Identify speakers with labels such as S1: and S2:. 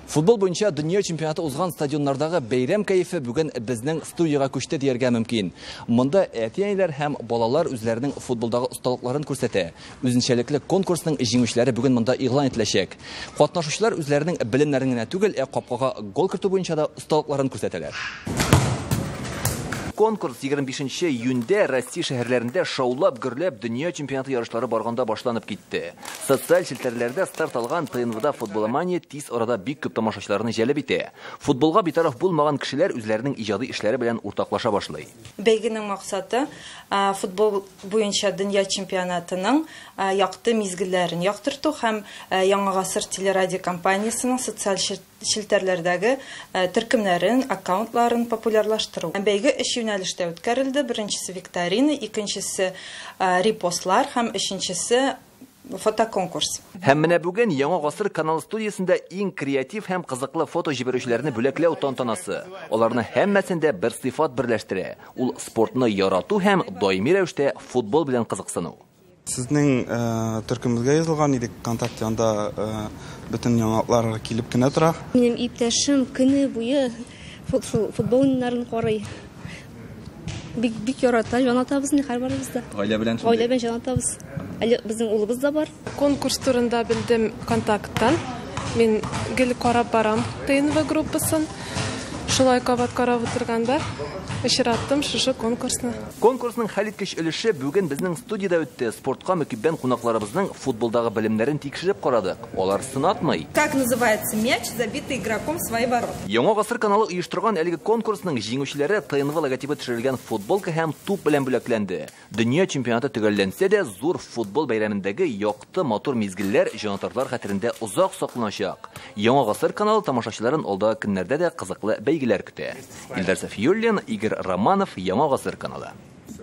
S1: Футбол буенча дөнья чемпионаты узган стадионнардагы бәйрәм кәефе бүген безнең студияга күчте дияргә мөмкин. Монда әти-әниләр һәм балалар үзләренең футболдагы осталыкларын күрсәтә. Үзенчәлекле конкурсның җиңүчеләре бүген монда игълан ителәчәк. Катнашучылар үзләренең белемнәрен генә түгел, ә капкага гол кертү буенча да осталыкларын күрсәтәләр. Конкурс 25 июньдә Россия шәһәрләрендә шаулап-гөрләп дөнья чемпионаты ярышлары барганда башланып китте. Социаль челтәрләрдә старт алган ТНВда футболомания тиз арада бик күп тамашачыларны җәлеп итә. Футболга битараф булмаган кешеләр үзләренең иҗади эшләре белән уртаклаша башлый. Бәйгенең максаты,
S2: футбол буенча дөнья чемпионатының якты мизгелләрен яктырту һәм Яңа гасыр телерадиокомпаниясенең социаль челтәрләрдәге төркемнәрен, аккаунтларын популярлаштыру. Бәйге өч юнәлештә үткәрелде, беренчесе викторина, икенчесе репостлар һәм өченчесе фотоконкурс. Һәм менә бүген
S1: Яңа гасыр каналы студиясендә иң креатив һәм кызыклы фото җибәрүчеләрне бүләкләү тантанасы. Аларны һәммәсен дә бер сыйфат берләштерә, ул спортны ярату һәм даими рәвештә футбол белән кызыксыну. Сезнең
S3: төркемебезгә язылган идек ВКонтакте, анда бөтен яңалыклар килеп кенә тора. Минем иптәшем
S4: көне буе футбол уеннарын карый. Бик бик ярата, җанатабыз инде һәрбарыбыз да. Гаилә белән шундый. Гаилә белән
S1: җанатабыз.
S4: Әле безнең улыбыз да бар. Конкурс турында
S5: белдем ВКонтактан. Мин гел карап барам ТНВ группасын. Шулай кабат карап утырганда очраттым шушы конкурсны. Конкурсның хәлиткеч
S1: өлеше бүген безнең студиядә үтте. Спортка мөкиббән кунакларыбызның футболдагы белемнәрен тикшереп карадык. Алар сынатмый. Как называется
S2: мяч, забитый игроком в свои ворота? Яңа гасыр каналы
S1: оештырган әлеге конкурсның җиңүчеләре ТНВ логотибы төшерелгән футболка һәм туп белән бүләкләнде. Дөнья чемпионаты төгәлләнсә дә, зур футбол бәйрәмендәге якты Якты, матур мизгелләр җанатарлар хәтерендә озак сакланачак. Яңа гасыр каналы тамашачыларын алда көннәрдә дә кызыклы бәйгеләр көтә. Илдар Сафиуллин, Игорь Романов, Яңа гасыр каналы.